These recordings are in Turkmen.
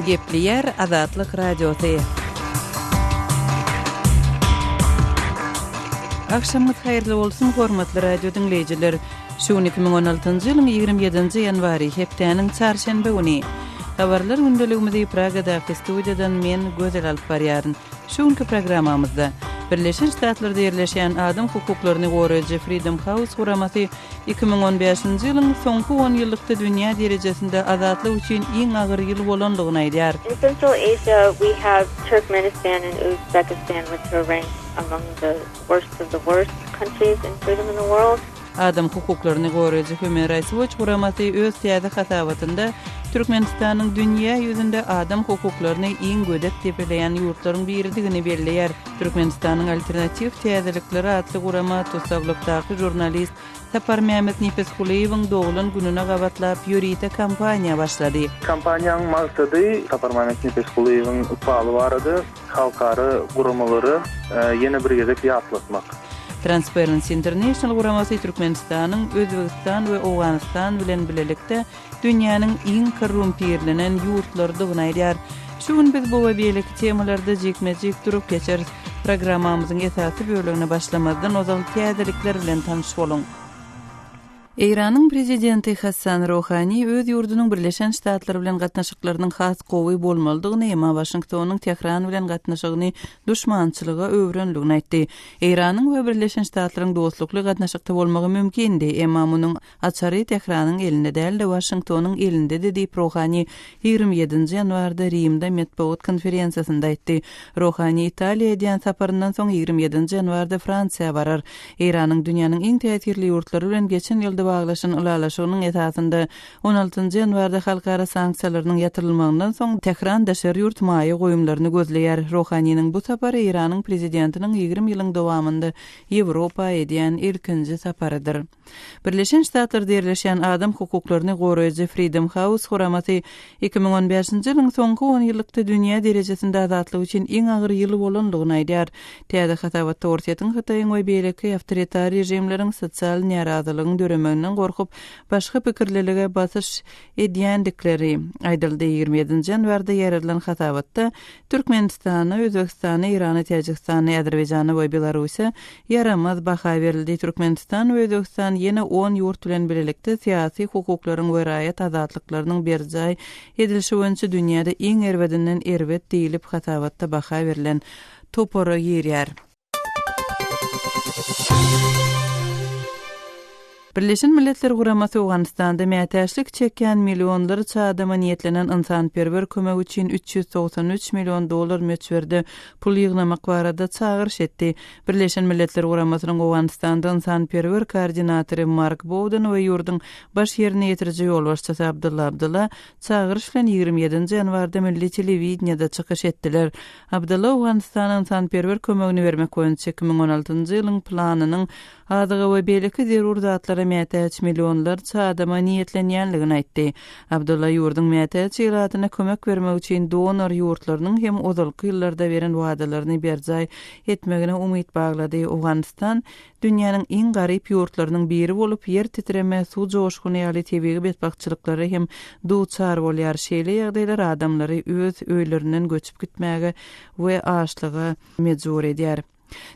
Gepleýär Azatlyk Radiosy. Agşamyňyz haýyrly bolsun, hormatly radio diňleýjiler. Şu gün 2016-njy ýylyň 27-nji ýanwary, hepdäniň çarşenbe güni. Habarlar gündeligimizi Pragadaky studiýadan men Gözel alyp barýaryn. Şu günki programmamyzda, Birleşen Ştatlarda ýerleşýän adam hukuklaryny goraýjy Freedom House guramasy iki müň on bäşinji ýylyň soňky on ýyllykda dünýä derejesinde azatlyk üçin iň agyr ýyl bolandygyny aýdýar. In Central Asia we have Turkmenistan and Uzbekistan which are ranked among the worst of the worst countries in freedom in the world. Adam hukuklaryny goraýjy Human Rights Watch guramasy öz täze hasabatynda Türkmenistanyň dünýä ýüzünde adam hukuklaryny iň gödek depeleýän ýurtlaryň biridigini belleýär. Türkmenistanyň alternatiw täzelikleri atly gurama tussaglykdaky žurnalist Saparmämmet Nepisgulyýewiň doglan gününe gabatlap ýörite kampaniýa başlady. Kampaniýanyň maksady Saparmämmet Nepisgulyýewiň ykbaly barada. Halkara guramalara ýene bir gezek ýatlatmak. Transparency International guramasy Türkmenistanyň Özbegistan we Owganystan bilen bilelikde dünýäniň iň korrumpirlenen ýurtlarydygyny aýdýar. Şu gün biz bu we beýleki temalarda jikme-jik durup geçeris. Programmamyzyň esasy bölegine başlamazdan ozal täzelikler bilen tanyş boluň. Eýranyň Prezidenti Hassan Rohani öz ýurdunyň Birleşen Ştatlar bilen gatnaşyklarynyň has gowy bolmalydygyny, emma Waşingtonyň Tähran bilen gatnaşygyny duşmançylyga öwürenligini aýtdy. Eýranyň we Birleşen Ştatlaryň dostlukly gatnaşykda bolmagy mümkindi, emma munuň açary Tähranyň elinde däl-de, Waşingtonyň elindedi diýip, Rohani ýigrimi ýedinji ýanwarda Rimde metbugat konferensiýasynda aýtdy. Rohani Italiýa edýän saparyndan soň ýigrimi ýedinji ýanwarda Fransiýa barar. Eýranyň dünýäniň iň täsirli ýurtlary bilen geçen ýylda baglaşan ylalaşygynyň esasynda on altynjy ýanwarda halkara sanksiýalarynyň ýatyrylmagyndan soň Tähran daşary ýurt maýa goýumlaryny gözleýär. Rohaniniň bu sapary Eýranyň prezidentiniň ýigrimi ýylyň dowamynda Ýewropa edýän ilkinji saparydyr. Birleşen Ştatlarda ýerleşýän adam hukuklaryny goraýjy Freedom House guramasy iki müň on bäşinji ýylyň soňky onýyllykda dünýä derejesinde azatlyk üçin iň agyr ýyl bolandygyny aýdýar. Täze hasabatda Orsýetiň, Hytaýyň we beýleki awtoritar režimleriň sosial närazylygyň döremeginden gorkup, başga pikirlilige basyş edýändikleri aýdyldy. Ýigrimi ýedinji ýanwarda ýaýradylan hasabatda Türkmenistana, Özbegistana, Eýrana, Täjigistana, Äzerbaýjana we Belarusa ýaramaz baha berildi. Türkmenistan we Özbegistan ýene on ýurt bilen birlikde syýasy hukuklaryň we raýat azatlyklarynyň berjaý edilişi boýunça dünýäde iň erbedinden erbet diýlip hasabatda baha berlen topara girýär. Birleşen Milletler Guramasy Owganystanda mätäçlik çekýän millionlarça adama niýetlenen ynsanperwer kömek üçin üç ýüz togsan üç million dollar möçberde pul ýygnamak barada çagyryş etdi. Birleşen Milletler Guramasynyň Owganystanda ynsanperwer koordinatory Mark Bowden we ýurduň Baş ýerine ýetiriji ýolbaşçysy Abdulla Abdulla çagyryş bilen ýigrimi ýedinji ýanwarda milli telewideniýede çykyş etdiler. Abdalla Owganystana ynsanperwer kömegini bermek boýunça iki müň on altynjy ýylyň planynyň azyga we beýleki zerur zatlara mätäç millionlarça adama niýetlenýändigini aýtdy. Abdalla ýurduň mätäç ilatyna kömek bermek üçin donor ýurtlarynyň hem ozalky ýyllarda beren wadalaryny berjaý etmegine umyt baglady. Owganystan Dünýäniň iň garyp ýurtlarynyň biri bolup, ýer titreme, suw joşguny ýaly tebigy betbagtçylyklara hem duçar bolýar. Şeýle ýagdaýlar adamlary öz öýlerinden göçüp gitmäge we açlyga mejbur edýär.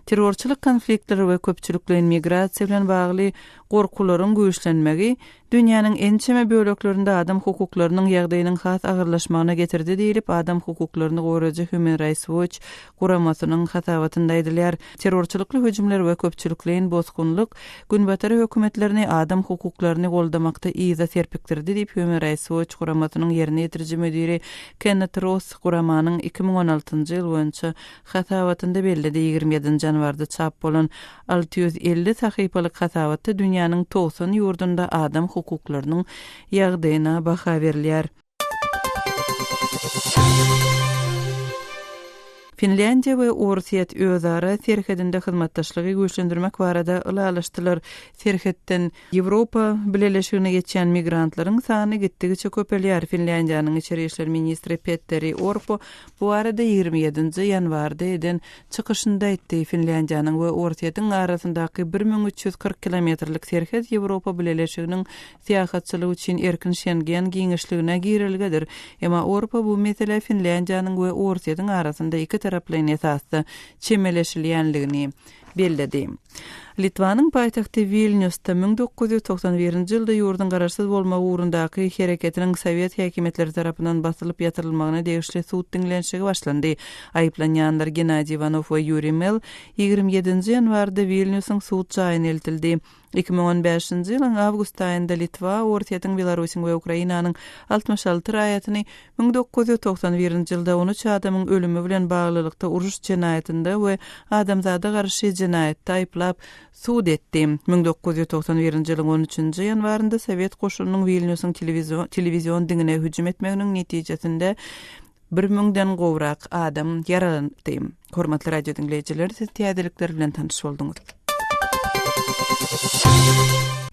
Terrorçylyk konfliktleri we köpçülikleýin migrasiýa bilen bagly gorkularyň güýçlenmegi, dünýäniň ençeme böleklerinde adam hukuklarynyň ýagdaýynyň has agyrlaşmagyna getirdi diýlip, adam hukuklaryny goraýjy Human Rights Watch guramasynyň hasabatynda aýdylýar. Terrorçylykly hüjümler we köpçülikleýin bosgunlyk Günbatar hökümetlerini adam hukuklaryny goldamakda yza serpikdirdi diýip, Human Rights Watch guramasynyň ýerine ýetiriji müdiri Kennet Ross guramanyň iki müň on altynjy ýyl boýunça hasabatynda belledi. Ýigrimi ýedinji ýanwarda çap bolan Alty ýüz elli sahypalyk hasabatda dünýäniň togsan ýurdunda adam hukuklarynyň ýagdaýyna baha berilýär. Finlýandiýa we Orsýet özara serhedinde hyzmatdaşlygy güýçlendirmek barada ylalaşdylar, Serhetden Ýewropa Bileleşigine geçýän migrantlaryň sany gitdigiçe köpelýär, Finlýandiýanyň içeri işler ministri Petteri Orpo Bu barada ýigrimi ýedinji ýanwarda eden çykyşynda aýtdy. Finlýandiýanyň we Orsýetiň arasyndaky bir müň üç ýüz kyrk kilometrlik serhet Ýewropa Bileleşiginiň syýahatçylygy üçin erkin Şengen giňişligine girelgedir. Emma Orpa bu meselä Finlýandiýanyň we Orsýetiň arasynda ikitaraplaýyn esasda çemeleşilýändigini, belledi. Litwanyň paýtagty Wilnýusda müň dokuz ýüz togsan birinji ýylda ýurduň garaşsyz bolmagy ugrundaky hereketiniň sowet häkimiýetleri tarapyndan basylyp ýatyrylmagyna degişli sud diňlenişigi başlandy. Aýyplanýanlar Gennadiý Iwanow we Ýuriý Mell ýigrimi ýedinji ýanwarda Wilnýusyň sud jaýyna eltildi. Iki müň on bäşinji ýylyň awgust aýynda Litwa, Orsýetiň, Belarusyň we Ukrainanyň altmyş alty raýatyny, müň dokuz ýüz togsan birinji ýylda on üç adamyň ölümi bilen baglylykda uruş jenaýatynda we adamzada garşy jenaýatda aýyplap, sud etdi. Müň dokuz ýüz togsan birinji ýylyň on üçünji ýanwarynda sowet goşunynyň Wilnýusyň telewizion diňine hüjüm etmeginiň netijesinde, Bir müňden gowrak adam ýaralanypdy. Hormatly radio diňleýjiler, siz täzelikler bilen tanyş bolduňyz.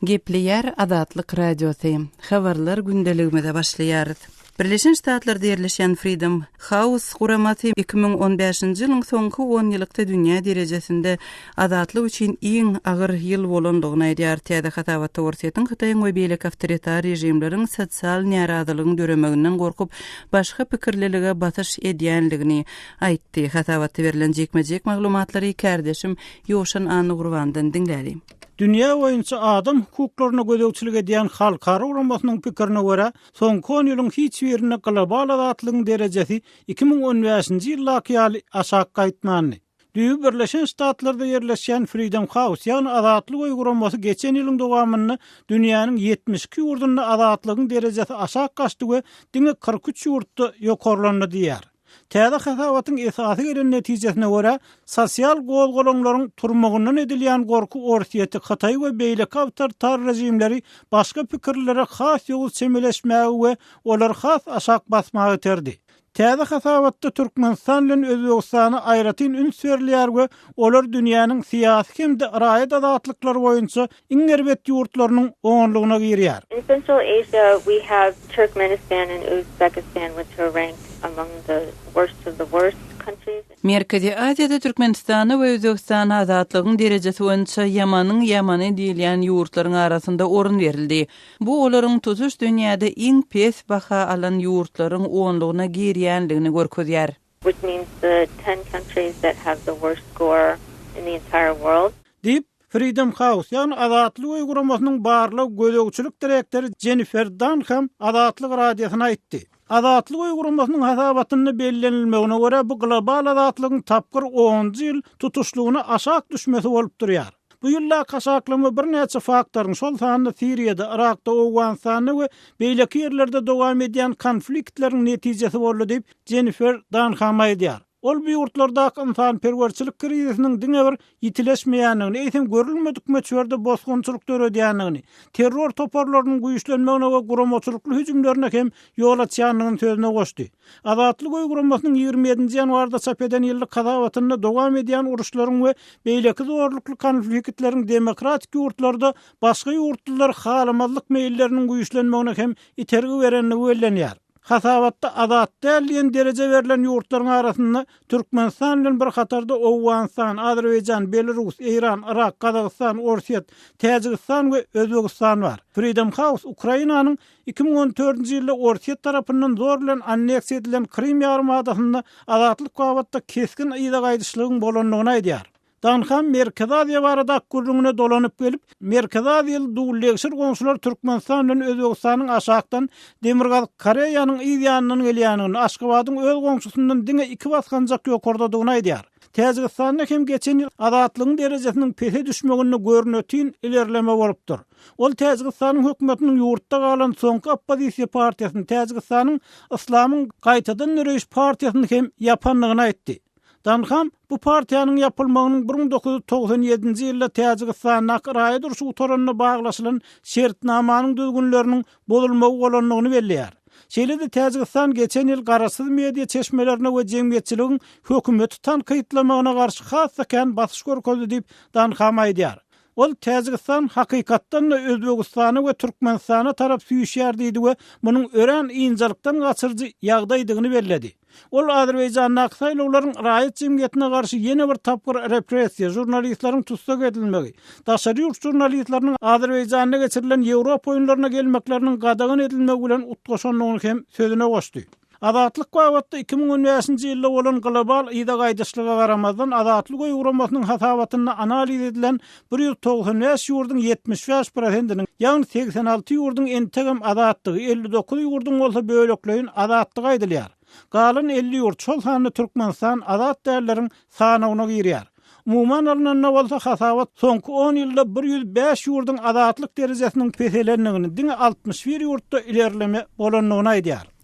Gepleýär Azatlyk Radiosy. Habarlar gündeligimize başlaýarys. Birleşen Ştatlarda ýerleşýän Freedom House guramasy 2015-nji ýylyň soňky onýyllykda dünýä derejesinde Azatlyk üçin iň agyr ýyl bolandygyny aýdýar. Täze hasabat Torsýetiň Hytaýyň we beýleki awtoritar režimleriň sosial närazylygyň döremeginden gorkup, başga pikirlilige basyş edýändigini aýtdy. Hasabatda berlen jikme-jik maglumatlary kärdeşim Ýowşan Annagurbandan diňläliň. Dünýä boýunça adam hukuklaryna gözegçilik edýän halkara guramasynyň pikirine görä, soňky on ýylyň hiç birinde global azatlygyň derejesi iki müň on bäşinji ýyldaky ýaly aşak gaýtmandy. Düýbi Birleşen Ştatlarda ýerleşýän Freedom House, ýagny Azatlyk öýi guramasy geçen ýylyň dowamynda dünýäniň ýetmiş iki ýurdunda azatlygyň derejesi aşak gaçdy we diňe kyrk üç ýurtda ýokarlandy diýýär. Täze hasabatyň esasy gelen netijesine görä, sosial gozgalaňlaryň turmagyndan edilýän gorky Orsýeti, Hytaýy we beýleki awtoritar režimleri başga pikirlilere has ýowuz çemeleşmäge we olary has aşak basmaga iterdi. Täze hasabatda Türkmenistan bilen Özbegistana aýratyn üns berilýär we olar dünýäniň syýasy hem-de raýat azatlyklary boýunça iň erbet ýurtlarynyň onlugyna girýär. In Central Asia we have Turkmenistan and Uzbekistan which are ranked among the worst of the worst countries. Merkezi Aziýada Türkmenistana we Özbegistana azatlygyň derejesi boýunça ýamanyň ýamany diýilýän ýurtlaryň arasynda orun berildi. Bu olaryň tutuş dünýäde iň pes baha alan ýurtlaryň onlugyna girýänligini görkezýär. Which means the ten countries that have the worst score in the entire world. Diýip, Freedom House, ýagny Azatlyk öýi guramasynyň barlag-gözegçilik direktory Jennifer Dann hem Azatlyk Radiosyna aýtdy. Azatlyk öýi guramasynyň hasabatynda bellenilmegine görä, bu global azatlygyň tapgyr onunjy ýyl tutuşlygyna aşak düşmesi bolup durýar. Bu ýyldaky aşaklama birnäçe faktoryň, şol sanda Siriýada, Yrakda, Owganystanda we beýleki ýerlerde dowam edýän konfliktleriň netijesi boldy diýip, Jennifer Danham aýdýar. Ol bu ýurtlardaky ynsanperwerçilik krizisiniň diňe bir ýitileşmeýändigini, eýsem görülmedik möçberde bosgunçylyk döredýändigini, terror toparlarynyň güýçlenmegine we guramaçylykly hüjümlerine hem ýol açýandygyny sözüne goşdy. Azatlyk oý guramasynyň ýigrimi ýedinji ýanwarda çap eden ýyllyk hasabatynda dowam edýän uruşlaryň we beýleki zorlukly konflikitleriň demokratik ýurtlarda başga ýurtlulary halamazlyk meýilleriniň güýçlenmegine hem itergi berendigi bellenýär. Hasabatda azat däl diýen dereje berlen ýurtlaryň arasynda Türkmenistan bilen bir hatarda Owganystan, Azerbaýjan, Belarus, Eýran, Yrak, Gazagystan, Orsýet, Täjigistan we Özbegistan bar. Freedom House Ukrainanyň Iki müň on dördünji ýylda Orsýet tarapyndan zor bilen anneksiýa edilen Krym ýarymadasynda azatlyk babatda kesgin yza gaýdyşlygyň bolandygyny aýdýar. Danham Merkezi Aziýa baradaky gürrüňine dolanyp gelip, Merkezi Aziýaly dullegşir goňşular Türkmenistan bilen Özbegistanyň aşakdan, Demirgazyk Koreýanyň yz ýanyndan gelýändigini, Aşgabadyň öz goňşusyndan diňe iki basganjak ýokardadygyny aýdýar. Täjigistanda hem geçen ýyl azatlygyň derejesiniň pese düşmeginde görnetin ilerleme bolupdyr. Ol Täjigistanyň hökümetiniň ýurtda galan soňky oppozisiýa partiýasyny, Täjigistanyň Yslamyň gaýtadan döreýiş partiýasyny hem ýapandygyny aýtdy. Danham bu partiýanyň ýapylmagynyň bir müň dokuz ýüz togsan ýedinji ýylda Täjigistandaky raýat urşy gutaranda baglaşylan şertnamanyň düzgünleriniň bozulmagy bolandygyny belleýär. Şeýle-de Täjigistan geçen ýyl garaşsyz media çeşmelerine we jemgyýetçiligiň hökümeti tankytlamagyna garşy has-da kän basyş görkezdi diýip, Danham aýdýar. Ol, Täjigistan hakykatdan-da Özbegistana we Türkmenistana tarap süýşýär diýdi we munuň örän ynjalykdan gaçyryjy ýagdaýdygyny belledi. Ol Azerbaýjandaky saýlawlaryň raýat jemgyýetine garşy ýene bir tapgyr repressiýa, žurnalistleriň tussag edilmegi, daşary ýurt žurnalistleriniň Azerbaýjanda geçirilen Ýewropa oýunlaryna gelmekleriniň gadagan edilmegi bilen utgaşandygyny hem sözüne goşdy. Azatlyk babatda iki müň on bäşinji ýylda bolan global yza gaýdyşlyga garamazdan, Azatlyk oýugramasynyň hasabatynda analiz edilen bir ýüz togsan bäş ýurduň ýetmiş bäş prosentiniň, ýagny segsen alty ýurduň entegem azatdygy, elli dokuz ýurduň bolsa bölekleýin azatdygy aýdylýar. Galan elli ýurt, şol sanda Türkmenistan azat dälleriň sanawyna girýär. Umuman alnanda bolsa hasabat soňky on ýylda bir ýüz bäş ýurduň azatlyk derejesiniň peselendigini, diňe altmyş bir ýurtda ilerleme bolandygyny aýdýar.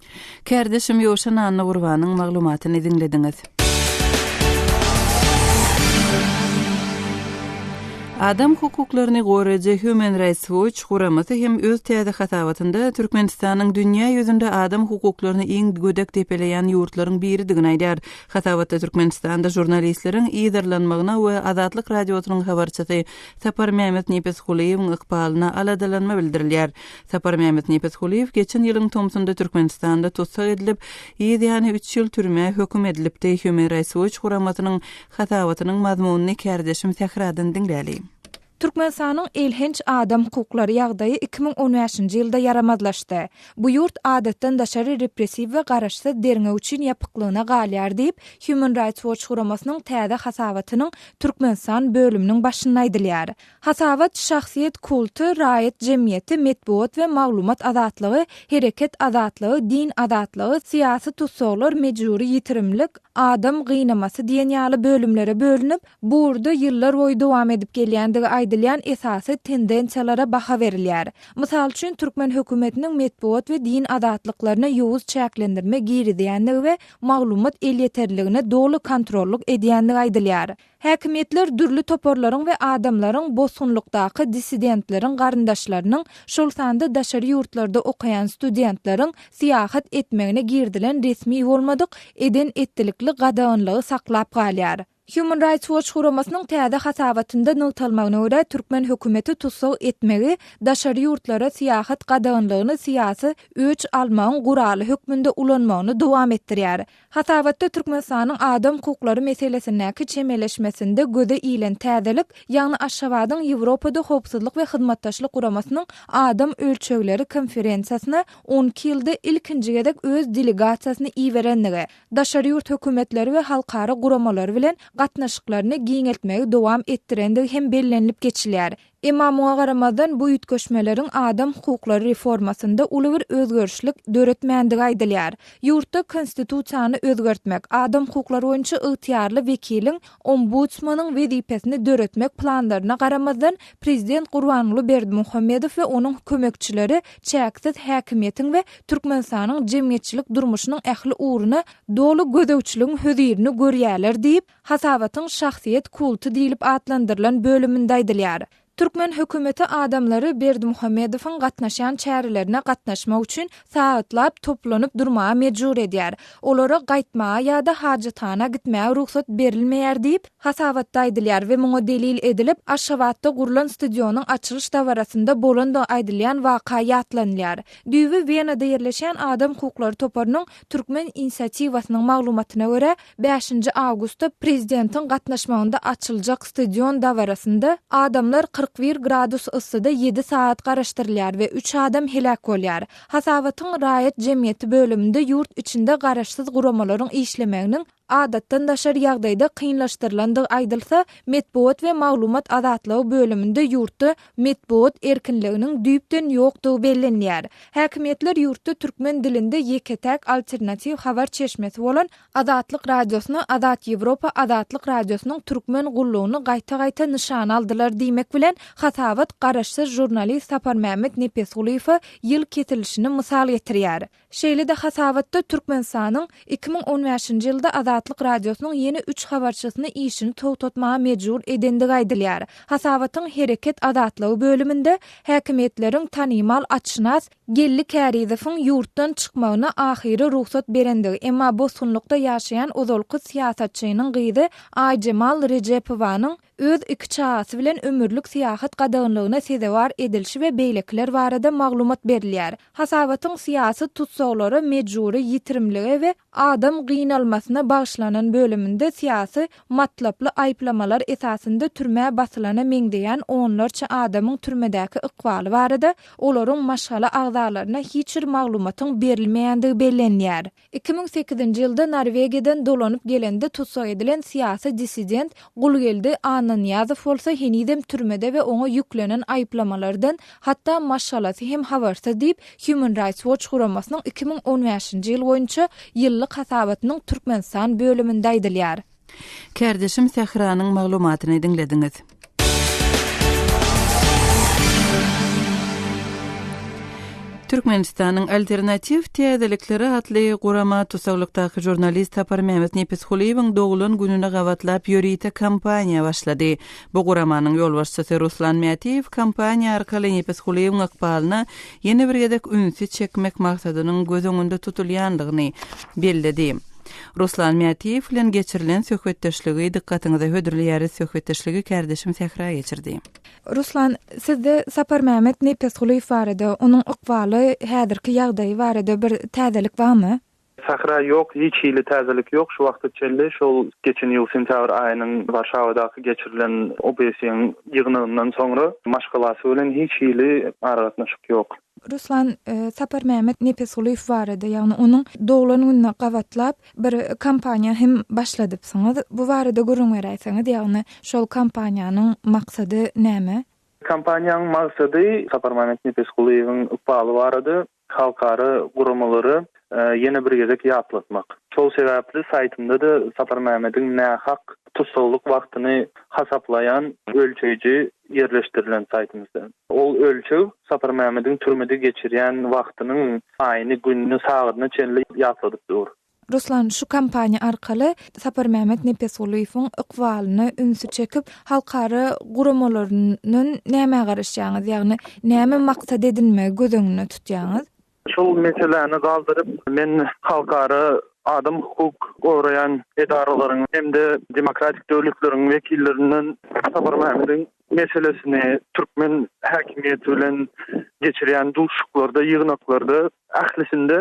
Kärdeşim Ýowşan Annagurbanyň maglumatyny diňlediňiz. Adam hukuklaryny goraýjy Human Rights Watch guramasy hem öz täze hasabatynda Türkmenistanyň dünýä ýüzünde adam hukuklaryny iň gödek depeleýän ýurtlaryň biridigini aýdýar. Hasabatda Türkmenistanda žurnalistleriň yzarlanmagyna we Azatlyk Radiosynyň habarçysy Sapar Mehmet Nepesgulyýewiň ykbalyna aladalanma bildirilýär. Saparmämmet Nepesgulyýew geçen ýylyň tomsunda Türkmenistanda tussag edilip, yz ýany üç ýyl türmä höküm edilipdi, Human Rights Watch guramasynyň hasabatynyň mazmunyny kärdeşim Sähradan diňläli. Türkmenistanyň elhenç adam hukuklary ýagdaýy iki müň on bäşinji ýylda ýaramazlaşdy. Bu ýurt adatdan daşary repressiw we garaşsyz derňew üçin ýapyklygyna galýar diýip, Human Rights Watch guramasynyň täze hasabatynyň Türkmenistan bölüminiň başynda aýdylýar. Hasabat, şahsyýet kulty, raýat jemgyýeti, metbugat we maglumat azatlygy, hereket azatlygy, din azatlygy, syýasy tussaglar, mejbury ýitirimlik, adam gynamasy diýen ýaly bölümlere bölünip, bu ugurda ýyllarboýy dowam edip gelýändigi aýdylýan esasy tendensiýalara baha berilýär. Mysal üçin, türkmen hökümetiniň metbugat we din azatlyklaryna ýowuz çäklendirme girizýändigi we maglumat elýeterliligine doly kontrollyk edýändigi aýdylýar. Häkimiýetler dürli toparlaryň we adamlaryň bosgunlykdaky dissidentleriň garyndaşlarynyň, şol sanda daşary ýurtlarda okaýan studentleriň syýahat etmegine girizilen resmi bolmadyk eden-etdilikli gadaganlygy saklap galýar. Human Rights Watch guramasynyň täze hasabatynda nygtalmagyna görä, türkmen hökümeti tussag etmegi daşary ýurtlara syýahat gadaganlygyny syýasy öç almagyň guraly hökmünde ulanmagyny dowam etdirýär. Hasabatda Türkmenistanyň adam hukuklary meselesindäki çemeleşmesinde göze ilen täzelik, ýagny Aşgabadyň Ýewropada Howpsuzlyk we Hyzmatdaşlyk Guramasynyň Adam ölçegleri konferensiýasyna on iki ýylda ilkinji gezek öz delegasiýasyny iberendigi, daşary ýurt hökümetleri we halkara guramalary bilen gatnaşyklaryny giňeltmegi dowam etdirendigi hem bellenilip geçilýär. Emma muňa garamazdan, bu üýtgeşmeleriň adam hukuklary reformasynda uly bir özgerişlik döretmändigi aýdylýar. Ýurtda Konstitusiýany özgertmek, adam hukuklary boýunça ygtyýarly wekiliň, ombudsmanyň, wezipesini döretmek planlaryna garamazdan, prezident Gurbanguly Berdimuhamedow we onuň kömekçileri çäksiz häkimiýetiň we Türkmenistanyň jemgyýetçilik durmuşynyň ähli ugruna doly gözegçiligiň hözirini görýärler diýip, Hasabatyň şahsyýet kulty diýlip atlandyrylan bölüminde aýdylýar. Türkmen hökümeti adamlary Berdimuhamedowyň gatnaşýan çärelerine gatnaşmak üçin sagatlap toplanyp durmaga mejbur edýär, olara gaýtmaga ýa-da hajathana gitmäge rugsat berilmeýär diýip, hasabatda aýdylýar we muňa delil edilip, Aşgabatda gurlan stadionyň açylyş dabarasynda bolandygy aýdylýan waka ýatlanylýar. Düýbi Wenada ýerleşýän adam hukuklary toparynyň Türkmen inisiatiwasynyň maglumatyna görä, Bäşinji awgustda prezidentiň gatnaşmagynda açyljak stadion dabarasynda adamlar kyrk bir gradus yssyda ýedi sagat garaşdyrylýar we üç adam heläk bolýar. Hasabatyň Raýat jemgyýeti bölüminde ýurt içinde garaşsyz guramalaryň işlemeginiň adatdan daşary ýagdaýda kynlaşdyrylandygy aýdylsa, metbugat we maglumat azatlygy bölüminde ýurtda Metbugat erkinliginiň düýpden ýokdugy bellenilýär. Häkimiýetler ýurtda türkmen dilinde ýeke-täk alternatiw habar çeşmesi bolan Azatlyk Radiosyny, Azat Ýewropa Azatlyk Radiosynyň türkmen gullugyny gaýta-gaýta nyşana aldylar diýmek bilen, hasabat garaşsyz žurnalist Saparmämmet Nepesgulyýewe ýyl kesilişini mysal getirýär. Şeýle-de hasabatda Türkmenistanyň iki müň on bäşinji ýylda Azatlyk Radiosynyň ýene üç habarçysyny işini togtatmaga mejbur edendigi aýdylýar. Hasabatyň Hereket azatlygy bölüminde häkimiýetleriň tanymal atşynas Geldi Kärizowyň ýurtdan çykmagyna ahyry rugsat berendigi, emma bosgunlykda ýaşaýan ozalky syýasatçynyň gyzy Aýjemal Rejepowanyň, öz iki çagasy bilen ömürlik syýahat gadaganlygyna sezewar edilişi we beýlekiler barada maglumat berilýär. Hasabatyň syýasy tussaglara mejbury ýitirimlige we adam gynalmasyna bagyşlanan bölüminde syýasy matlaply aýyplamalar esasynda türmä basylana meňzeýän onlarça adamyň türmedäki ykbaly barada olaryň maşgala agzalaryna hiç bir maglumatyň berilmeýändigi bellenýär. Iki müň sekizinji ýylda Norwegiýadan dolanyp gelende tussag edilen syýasy dissident Gulgeldi Annanyýazow bolsa henizem türmede we oňa ýüklenen aýyplamalardan hatda maşgalasy hem habarsyz diýip, Human Rights Watch guramasynyň iki müň on bäşinji ýyl boýunça ýyllyk hasabatynyň Türkmenistan bölüminde aýdylýar. Kärdeşim Sähranyň maglumatyny diňlediňiz. Türkmenistanyň Alternatiw täzelikleri atly gurama tussaglykdaky žurnalist Saparmämmet Nepisgulyýewiň doglan gününi gabatlap ýörite kampaniýa başlady. Bu guramanyň ýolbaşçysy Ruslan Mätiýew kampaniýa arkaly Nepisgulyýewiň ykbalyna ýene bir gezek ünsi çekmek maksadynyň göz öňünde tutulýandygyny belledi. Ruslan Mätiýew bilen geçirilen söhbetdeşligi dykgatyňyza hödürleýäris söhbetdeşligi kärdeşim Sähra geçirdi. Ruslan, sizde Saparmämmet Nepesgulyýew barada, onuň ykbaly, häzirki ýagdaýy barada bir täzelik barmy? Sähra, ýok, hiç hili täzelik ýok, şu wagta çenli şol geçen ýyl sentýabr aýynyň Warşawadaky geçirilen OBSE-iň ýygnagyndan soňra maşgalasy bilen hiç hili aragatnaşyk ýok. Ruslan Saparmämmet Nepesgulyýew barada, ýagny onuň doglan gününe gabatlap bir kampaniýa hem başladypsyňyz. Bu barada gürrüň beräýseňiz, ýagny şol kampaniýanyň maksady näme? Kampaniýanyň maksady Saparmämmet Nepesgulyýewiň ykbaly barada halkara guramalara ýene bir gezek ýatlatmak. Şol sebäpli saýtynda-da Saparmämmediň nähak tussaglyk wagtyny hasaplaýan ölçeýji ýerleşdirilen saýtymyzda. Ol ölçeg Saparmämmediň türmede geçirýän wagtynyň aýyny, gününi, sagadyna çenli ýatladyp dur. Ruslan, şu kampaniýa arkaly Saparmämmet Nepesgulyýewiň ykbalyna ünsi çekip, halkara guramalaryndan nämä garaşýaňyz? Ýagny, näme maksat edinmegi göz öňünde tutýaňyz? Şol meseläni galdyryp, men halkara adam hukuk goraýan edaralaryň hem-de demokratik döwletleriň wekillerinden Saparmämmediň meselesini türkmen häkimiýeti bilen geçirýän duşuşyklarda, ýygnaklarda ählisinde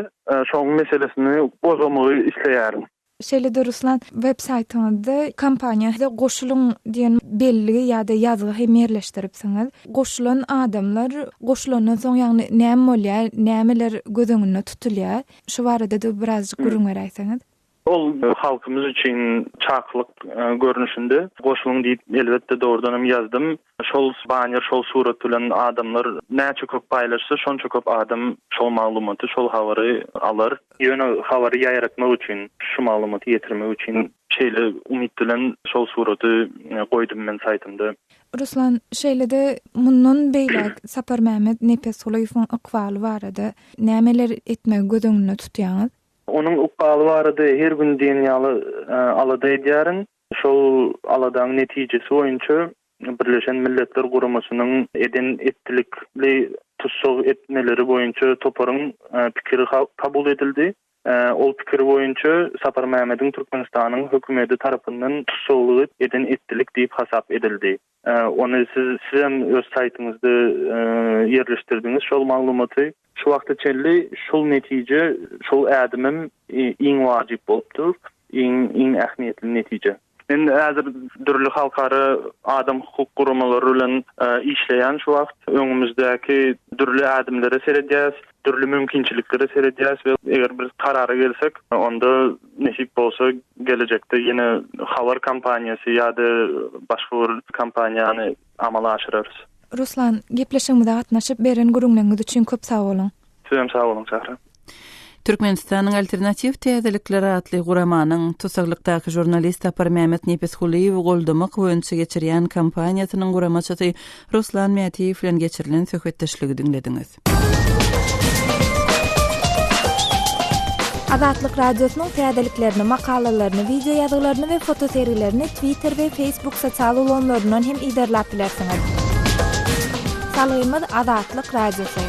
şoň meselesini gozgamagy isleýärin. Şeýle-de Ruslan, web saýtyňyzda Kompaniýa size goşulyň diýen belgi ýa-da ýazgy hem ýerleşdiripsiňiz. Goşulan adamlar goşulandan soň ýagny näme bolýar, nämeler göz öňünde tutulýar? Şu barada-da birazjyk gürrüň beräýseňiz. Ol halkymyz üçin çakylyk görnüşinde goşulyň diýip elbetde dogrudanam ýazdym. Şol banner, şol surat bilen adamlar näçe köp paýlaşsa, şonça köp adam şol maglumaty, şol habary alar. Ýöne habary ýaýratmak üçin, şu maglumaty ýetirmek üçin şeýle umyt bilen şol suraty goýdum men saýtymda. Ruslan, şeýle-de mundan beýläk Saparmämmet Nepesgulyýewiň ykbaly barada nämeler etmegi göz öňünde tutýaňyz? Onuň ykbaly barada her gün diýen ýaly alada edýärin. Şol aladaň netijesi boýunça Birleşen Milletler Guramasynyň eden etdilikli tussag etmeleri boýunça toparyň pikiri kabul edildi. Ol pikir boýunça Saparmämmediň Türkmenistanyň hökümeti tarapyndan tussaglyk eden etdilik diýip hasap edildi. Ony siz sizem öz saýtyňyzda ýerleşdirdiňiz şol maglumaty. Şu wagta çenli şol netije, şol ädimim iň wajyp bolup dur, iň iň ähmiýetli netije. Men häzir dürli halkara adam hukuk guramalary bilen işleýän şu wagt. Öňümizdäki dürli ädimlere seredýäs. Dürli mümkinçiliklere seredýäris we eger bir karara gelsek, onda nesip bolsa gelejekde ýene Habar kompaniýasy ýa-da başga bir kompaniýany amala aşyrarys. Ruslan, gepleşigimize gatnaşyp, beren gürrüňleriňiz üçin köp sag boluň! Siz hem sag boluň, Sähra! Türkmenistanyň Alternatiw täzelikleri atly guramanyň tussaglykdaky žurnalist Saparmämmet Nepisgulyýewi goldamak boýunça geçirýän kampaniýasynyň guramaçysy Ruslan Mätiýew bilen geçirilen söhbetdeşligi diňlediňiz. Azatlyk Radiosynyň täzeliklerini, makalalaryny, wideoýazgylaryny we fotosergilerini Twitter we Facebook sosial ulgamlaryndan hem yzarlap bilersiňiz. Salgymyz Azatlyk Radiosy.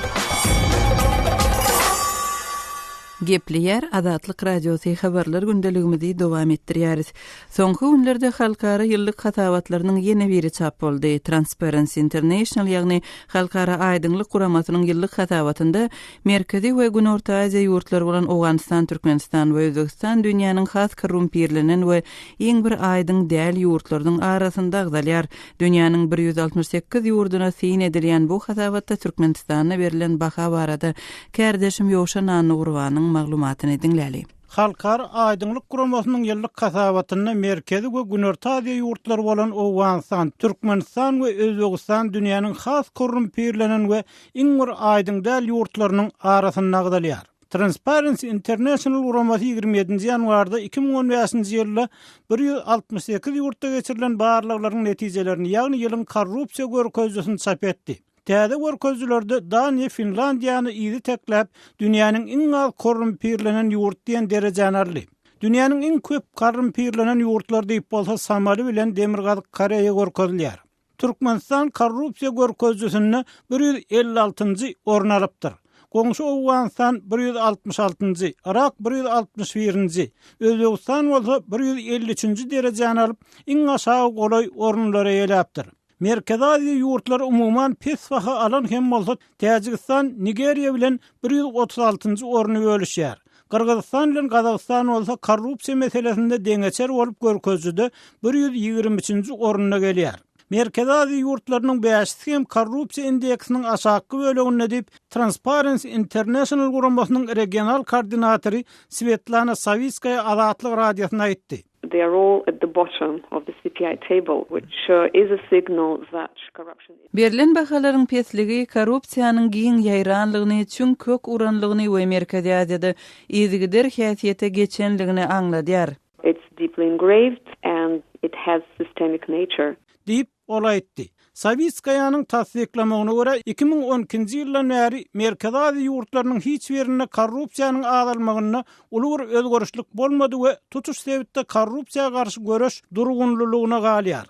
Gepleýär Azatlyk Radiosy habarlar gündeligimizi dowam etdirýäris. Soňky günlerde halkara ýyllyk hasabatlarynyň ýene biri çap boldy. Transparency International, ýagny Halkara aýdyňlyk guramasynyň ýyllyk hasabatynda Merkezi we Günorta Aziýa ýurtlary bolan Owganystan, Türkmenistan we Özbegistan dünýäniň has korrumpirlenen we iň bir aýdyň däl ýurtlarynyň arasynda agzalýar. Dünýäniň bir ýüz altmyş sekiz ýurduna syn edilýän bu hasabatda Türkmenistana berlen baha barada kärdeşim Ýowşan Annagurbanyň maglumatyny diňläli. Halkara aýdyňlyk guramasynyň ýyllyk hasabatynda Merkezi we Günorta Aziýa ýurtlary bolan Owganystan, Türkmenistan we Özbegistan dünýäniň has korrumpirlenen we iň bir aýdyň däl ýurtlarynyň arasynda agzalýar. Transparency International guramasy ýigrimi ýedinji ýanwarda iki müň on bäşinji ýylda bir ýüz altmyş sekiz ýurtda geçirilen barlaglaryň netijelerini, ýagny ýylyň korrupsiýa görkezijisini çap etdi. Täze görkezijilerde Daniýa Finlandiýany yzy tekläp, dünýäniň iň az korrumpirlenen ýurt diýen derejäni aldy. Dünýäniň iň köp korrumpirlenen ýurtlar diýip bolsa Somaly bilen Demirgazyk Koreýa görkezilýär. Türkmenistan korrupsiýa görkezijisinde bir ýüz elli altynjy orun alypdyr. Goňşy Owganystan bir ýüz altmyş altynjy, Yrak bir ýüz altmyş birinji, Özbegistan bolsa bir ýüz elli üçünji derejäni alyp, iň aşagy golaý orunlary eýeläpdir. Merkezi Aziýa ýurtlary umuman pes baha alan hem bolsa, Täjigistan Nigeriýa bilen bir ýüz otuz altynjy orny bölüşýär. Gyrgyzystan bilen Gazagystan bolsa korrupsiýa meselesinde deňeçer bolup görkezijide bir ýüz ýigrimi üçünji orunda gelýär. Merkezi Aziýa ýurtlarynyň bäşisi hem korrupsiýa indeksiniň aşakky böleginde diýip, Transparency International guramasynyň regional koordinatory Swetlana Sawitskaýa Azatlyk Radiosyna aýtdy. They are all at the bottom of the CPI table, which sure is a signal that corruption is. Berlen bahalaryň pesligi korrupsiýanyň giň ýaýranlygyny, çüň kök uranlygyny we Merkezi Aziýada yzygider häsiýete geçenligini aňladýar. It's deeply engraved and it has systemic nature. Diýip, Ol aýtdy. Sawitskaýanyň tassyklamagyna görä, iki müň on ikinji ýyldan bäri Merkezi Aziýa ýurtlarynyň hiç birinde korrupsiýanyň azalmagynda uly bir özgerişlik bolmady we tutuş sebitde korrupsiýa garşy göreş durgunlylygyna galýar.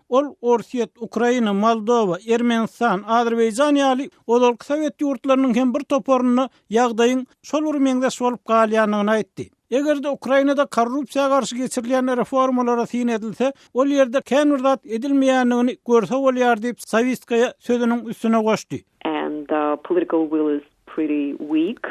Ol Orsýet, Ukraina, Moldowa, Ermenistan, Azerbaýjan ýaly ozalky sowet ýurtlarynyň hem bir toparynda ýagdaýyň şol bir meňzeş bolup galýandygyny aýtdy. Eger-de Ukrainada korrupsiýa garşy geçirilýän reformalara syn edilse, ol ýerde kän bir zat edilmeýändigini görse bolýar diýip, Sawistkaýa sözüniň üstüne goşdy. And the political will is pretty weak.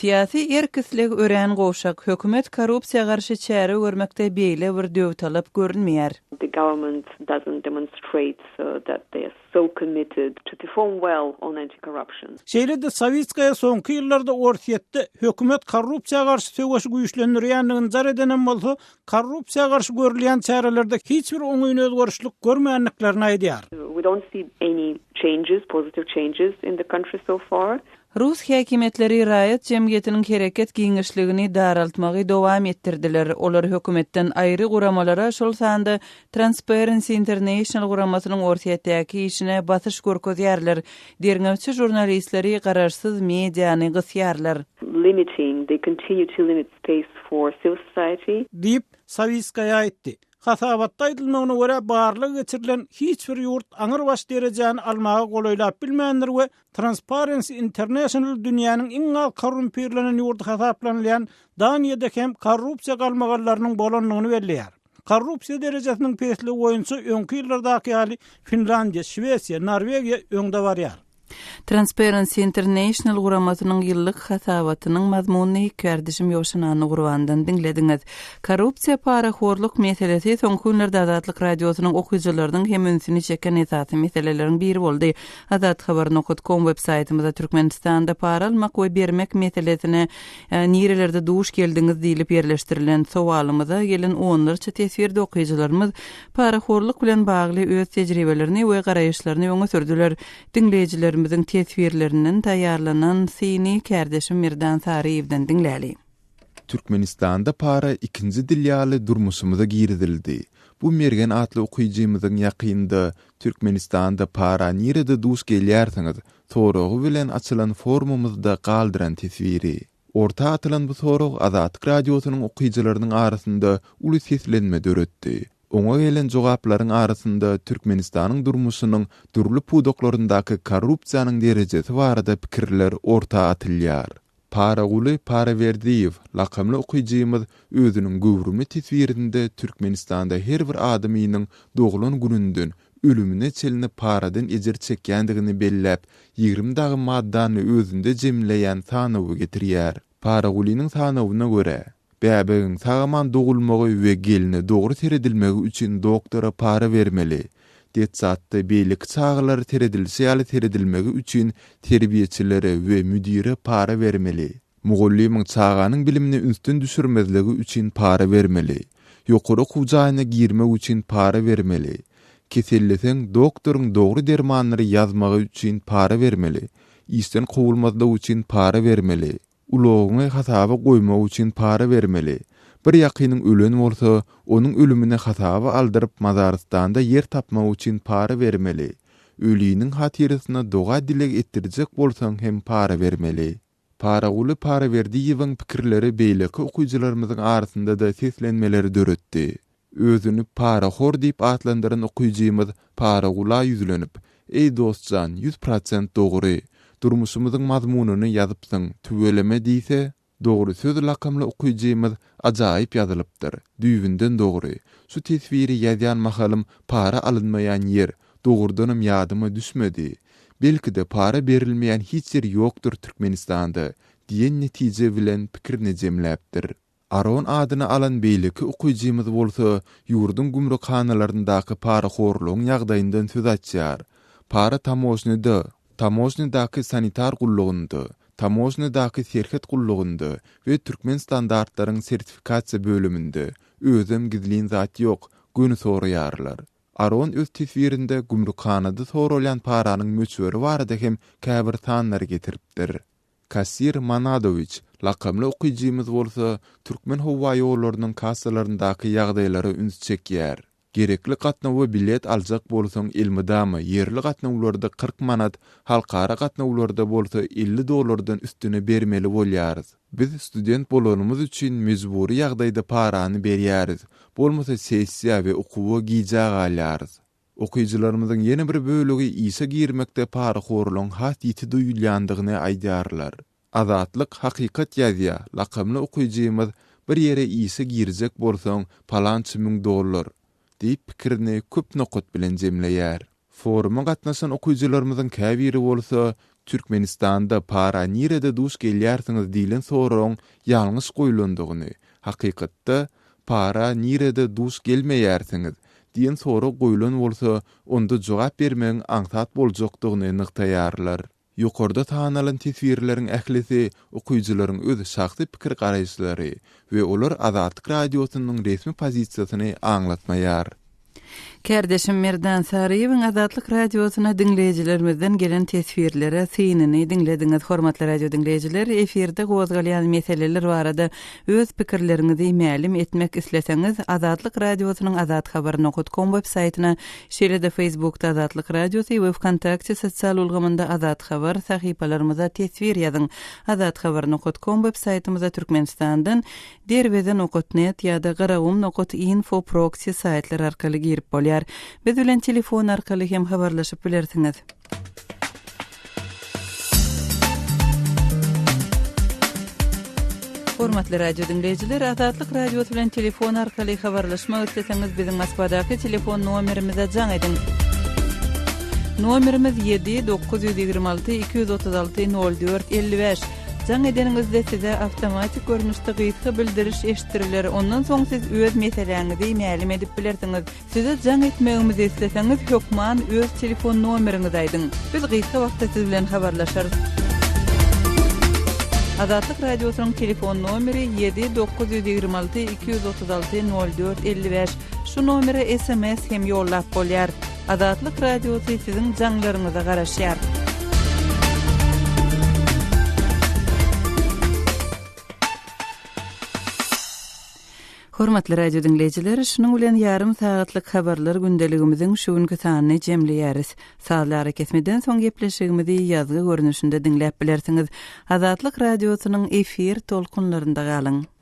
Syýasy erk-isleg örän gowşak. Hökümet korrupsiýa garşy çäre görmekde beýle bir döwtalap görünmeýär. The government doesn't demonstrate that they are So committed to perform well on anti-corruption. Şeýle-de Sawitskaýa soňky ýyllarda Orsýetde hökümet korrupsiýa garşy söweşi güýçlendirýändigini jar edenem bolsa, korrupsiýa garşy görülýän çärelerde hiç bir oňyn özgerişlik görmändiklerini aýdýar. We don't see any changes, positive changes in the country so far. Rus häkimiýetleri raýat jemgyýetiniň hereket giňişligini daraltmagy dowam etdirdiler, olar hökümetden aýry guramalara, şol sanda Transparency International guramasynyň Orsýetdäki işine basyş görkezýärler, derňewçi žurnalistleri, garaşsyz mediany gysýarlar. limiting, they continue to limit space for civil society. Diýip, Sawitskaýa aýtdy. Hasabatda aýdylmagyna görä, barlag geçirilen hiç bir ýurt aňrybaş derejäni almaga golaýlap bilmändir we Transparency International dünýäniň iň az korrumpirlenen ýurdy hasaplanylýan Daniýada hem korrupsiýa galmagallarynyň bolandygyny belleýär. Korrupsiýa derejesiniň pesligi boýunça öňki ýyllardaky ýaly Finlandiýa, Şwesiýa, Norwegiýa öňde barýar. Transparency International guramasynyň ýyllyk hasabatynyň mazmunyny hikärdişim Ýowşan Annagurbandan diňlediňiz. Korrupsiýa, parahorluk meselesi soňky günlerde Azatlyk Radiosynyň okyjylarynyň hem ünsüni çeken esasy meseleleriň biri boldy. Azat Haber nokut kom web saýtymyza Türkmenistanda para almak we bermek meselesine nirelerde duş geldiňiz diýlip ýerleşdirilen sowalymyza gelen onlarça teswirde okyjylarymyz parahorluk bilen bagly öz tejribelerini we garaýyşlaryny öňe sürdüler. Diňleýjilerimiziň teswirlerinden taýýarlanan syny kärdeşim Merdan Saryýewden diňläli. Türkmenistanda para ikinji dil ýaly durmuşymyza girizildi. Bu Mergen atly okyjymyzyň ýakynda Türkmenistanda para nirede duş gelýärsiňiz? soragy bilen açylan forumymyzda galdyran teswiri. Orta atylan bu sorag Azatlyk Radiosynyň okyjylarynyň arasynda uly seslenme döretdi. Oňa gelen jogaplaryň arasynda Türkmenistanyň durmuşynyň dürli pudaklaryndaky korrupsiýanyň derejesi barada pikirler orta atylýar. Paraguly Paraberdiýew lakamly okyjymyz özüniň göwrümli teswirinde Türkmenistanda her bir adamynyň doglan gününden ölümine çenli paradan ejir çekýändigini belläp, ýigrimi dagy maddany özünde jemleýän sanawy getirýär. Paragulynyň sanawyna görä, Bäbegiň sag-aman dogulmagy we gelne dogry seredilmegi üçin doktora para bermeli. Detsatda beýleki çagalara seredilişi ýaly seredilmegi üçin terbiýeçilere we müdire para bermeli. Mugallymyň çaganyň bilimini ünsden düşürmezligi üçin para bermeli. Ýokary okuw jaýyna girmek üçin para bermeli. Keselleseň, doktoryň dogry dermanlary ýazmagy üçin para bermeli. Işden kowulmazlyk üçin para bermeli. Ulagyňy hasaba goýmak üçin para bermeli. Bir ýakynyň ölen bolsa, onuň ölümini hasaba aldyryp Mazarystanda ýer tapmak üçin para bermeli. Öliniň hatyrysyna doga-dileg etdirjek bolsaň hem para bermeli. Paraguly Paraberdiýewiň pikirleri beýleki okyjylarymyzyň arasynda-da seslenmeleri döretdi. Özüni parahor diýip atlandyran okyjymyz Paragula ýüzlenip, Eý dost jan, ýüz prosent dogry. Durmuşymyzyň mazmunyny ýazypsyň, tüweleme diýse, Dogry söz lakamly okyjymyz ajaýyp ýazylypdyr, düýbünden dogry. Şu teswiri ýazýan mahalym para alynmaýan ýer, dogrudanam ýadyma düşmedi. Belki-de para berilmeýän hiç ýer ýokdur Türkmenistanda diýen netije bilen pikirini jemläpdir. Aron adyny alan beýleki okyjymyz bolsa ýurduň gümrükhanalaryndaky parahorlugyň ýagdaýyndan söz açýar, Para tamožnyda, tamožnydaky sanitar gullugynda, tamožnydaky serhet gullugynda we Türkmenstandartlaryň sertifikasiýa bölüminde özem gizlin zat ýok, göni soraýarlar. Aron öz teswirinde gümrükhanada soralýan paranyň möçberi barada hem käbir sanlary getiripdir. Kassir Manadowiç lakamly okyjymyz bolsa Türkmenhowaýollarynyň kassalaryndaky ýagdaýlara üns çekýär. Gerekli gatnawa bilet aljak bolsaň elmydama ýerli gatnawlarda kyrk manat, halkara gatnawlarda bolsa elli dollardan üstüne bermeli bolýarys. Biz student bolanymyz üçin mejbury ýagdaýda parany berýäris, bolmasa sessiýa we okuwa gijä galýarys. Okyjylarymyzyň ýene bir bölegi işe girmekde parahorlugyň has ýiti duýulýandygyny aýdýarlar. Azatlyk hakykat ýazýar, lakamly okyjymyz Bir ýere işe girjek bolsaň, palança müň dollar! diýip pikirini köp nokat bilen jemleýär. Foruma gatnaşan okyjylarymyzyň käbiri bolsa, Türkmenistanda para nirede duş gelýärsiňiz diýlen soragyň ýalňyş goýlandygyny, hakykatda, para nirede duş gelmeýärsiňiz? diýen sorag goýlan bolsa, onda jogap bermegiň aňsat boljakdygyny nygtaýarlar. Ýokarda sanalan teswirleriň ählisi okyjylaryň öz şahsy pikir-garaýyşlary we olar Azatlyk Radiosynyň resmi pozisiýasyny aňlatmaýar. Kärdeşim Merdan Saryýewiň Azatlyk Radiosyna diňleýjilerimizden gelen teswirlere synyny diňlediňiz. Hormatly radio diňleýjiler, efirde gozgalýan meseleler barada öz pikirleriňizi mälim etmek isleseňiz, Azatlyk Radiosynyň Azat Habar nohut kom web saýtyna, şeýle-de Feýsbukda Azatlyk Radiosy we Wkontakte sosial ulgamynda Azat Habar sahypalarymyza teswir ýazyň. Azat Habar nohut kom web saýtymyza Türkmenistandan Derweze nokat net ýa-da Garagum nokat info proksi saýtlar arkaly girip bolýar. Biz bilen telefon arkaly hem habarlaşyp bilersiňiz. Hormatly radio diňleýjiler, Azatlyk Radiosy bilen telefon arkaly habarlaşmak isleseňiz, biziň Moskwadaky telefon nomerimize jaň ediň. Nomerimiz 7 926 236 04 55. Jaň edeniňizde size awtomatik görnüşde gysga bildiriş eşitdiriler, ondan soň siz öz meseläňizi mälim edip bilersiňiz. Size jaň etmegimizi isleseňiz, hökman öz telefon nomeriňizi aýdyň. Biz gysga wagtda siz bilen habarlaşarys. Azatlyk Radiosynyň telefon nomeri ýedi dokuz ýüz ýigrimi alty iki ýüz otuz alty nol dört elli bäş. Şu nomere sms hem ýollap bolýar. Azatlyk Radiosy siziň jaňlaryňyza garaşýar. Hormatly radio dinleýjiler, şunuň bilen ýarym sagatlyk habarlar gündeligimiziň şu günki sanyny jemleýäris. Sazlary kesmeden soň gepleşigimizi ýazgy görnüşinde diňläp bilersiňiz. Azatlyk radiosynyň efir tolkunlarynda galyň.